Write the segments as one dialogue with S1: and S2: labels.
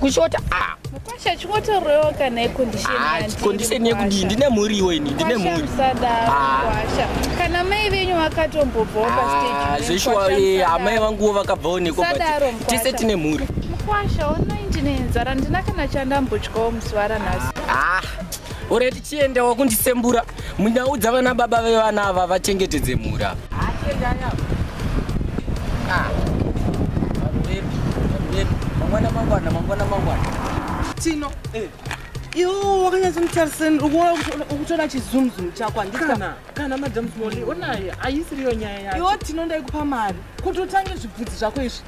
S1: kushota ah. mukwasha
S2: chingotorowo kana ikondisheni ah, yekudii ndine
S1: mhuriwo ini ndine mhuri ah.
S2: kana mai venyu vakatombobvawo pastezveshuwa eh, amai
S1: vanguwo vakabvawo nekotese tine mhuri mukwasha onai
S2: ndine nzara ndina kana chandambotyawo musi varanhasi ore
S1: tichienda wakundisembura munyaudza vana baba vevana ava vachengetedze mhura mangwana mangwana mangwana mangwana tino
S3: eh. iwo wakanyatsomutariseni ukutoda chizumzumu chako handikana kana madam smoli onaye haisiriyo nyaya yaiwo tino ndaikupa mari kuti utange zvibvudzi zvako izvi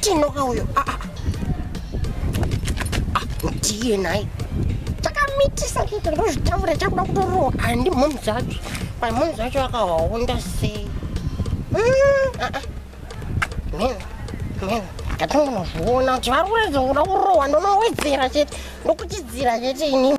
S4: tinoka uyo ah, ah. ah, ndiye nhai takamitisa kuita ndozvitaura chakuda kutorowa handi mhomhu dzacho pai mhomhu dzacho akawaonda sei ndatongonozviona kuti vari kuratidza kuda kurohwa ndonowedzera chete ndokuchidzira chete ini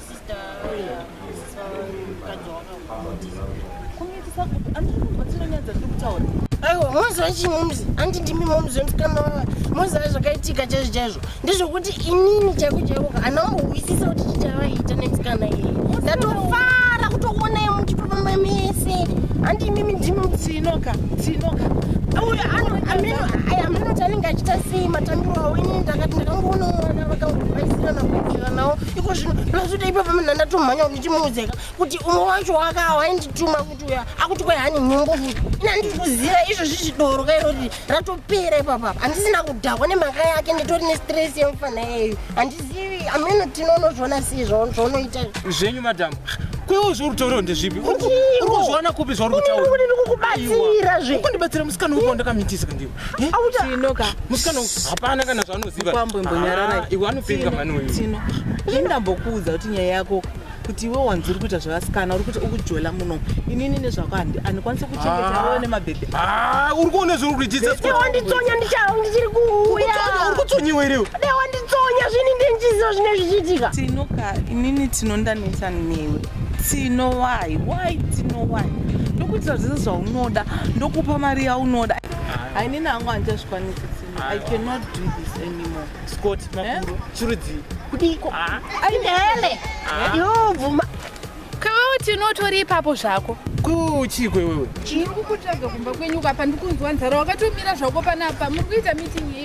S4: moziva chii momzi andi ndimi momzi wemusikana wava moziva zvakaitika chaizvo chaizvo ndezvokuti inini chaiko chaiko ana mbohwisisa kuti chichavaita nemusikana iyeye ndatofara kutoonai muchipamama mese andi imimi ndimi mtsinoka
S3: tsinoka
S4: uyo amenoti anenge achita sei matambiro awo inini ndakati ndakangoona mwana vakangobaisirana kuitiranawo iko zvino ndinozoita ipapa munhu andatomhanya kuti ndichimuudzeka kuti umwe wacho wakawa aindituma kuti uya akuti kwai hani nyumbu futi ina ndikuziva izvo zvichidoro kairoti ratopera ipapa handisina kudhakwa nemhaka yake nditori nestress yemufana yeyu handizivi ameno tinonozviona sei zvaunoita zvenyu madhamu
S3: kwewo zvorutoro ndezvipi urikuzviona kupi zvauri kutaura ndikukubatsira
S4: zve ukundibatsira musikana uko
S3: ndakamitisa ndiwe Eh, tino ka
S4: musikana
S3: hapana kana zvaanoziva kwambo imbonyarara ah, iwe
S4: anopenga mani
S3: uyu tino ini
S5: ndambokuudza kuti nyaya yako kuti iwe wanzi uri kuita zvevasikana uri kuti ukujola muno inini nezvako handi andikwanisi kuchengeta ah. iwe nemabhebhi ah, uri kuona
S3: zvauri kuitawanditsonya ndichao
S4: ndichiri kuuyauri kutsonyiwa
S3: iriwe dewanditsonya zvini
S4: ndenjiziva zvine zvichiitika tinoka inini
S5: tinondanetsa newe tinowai why tinowai ndokuitira zvese zvaunoda ndokupa mari yaunoda hainini hangu handichazvikwanisi tino i cannot do this anymore scott eh? makuru
S3: chirudzii kudiko ah.
S4: ainele ah. yobvuma kwewewo
S2: tinotori ipapo zvako kwewewo chii kwewewe
S3: chiri kukutsvaga
S2: kumba kwenyuka apa ndikunzwa nzara wakatomira zvako panapa muri kuita meeting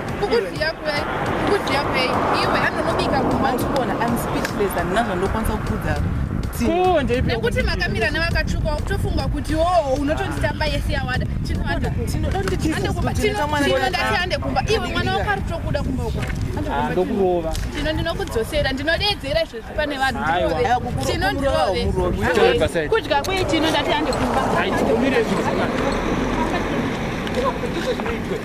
S2: kukudyiya
S3: kwei
S2: kukudyiya kwei iwe anonobika kumatikona am speechless
S5: handina zvandokwanisa kukudza nekuti
S2: makamira nevakatsvuka wakutofunga kuti o oh, unotonditamba yese yawada chinoadatiande kumba iwe mwana wako ari tokuda kumba uko ndokurova
S3: tino ndinokudzosera
S2: ndinodeedzera izvezvi pane vanhu tino ndirove kudya kwei tino ndatiande
S3: kumba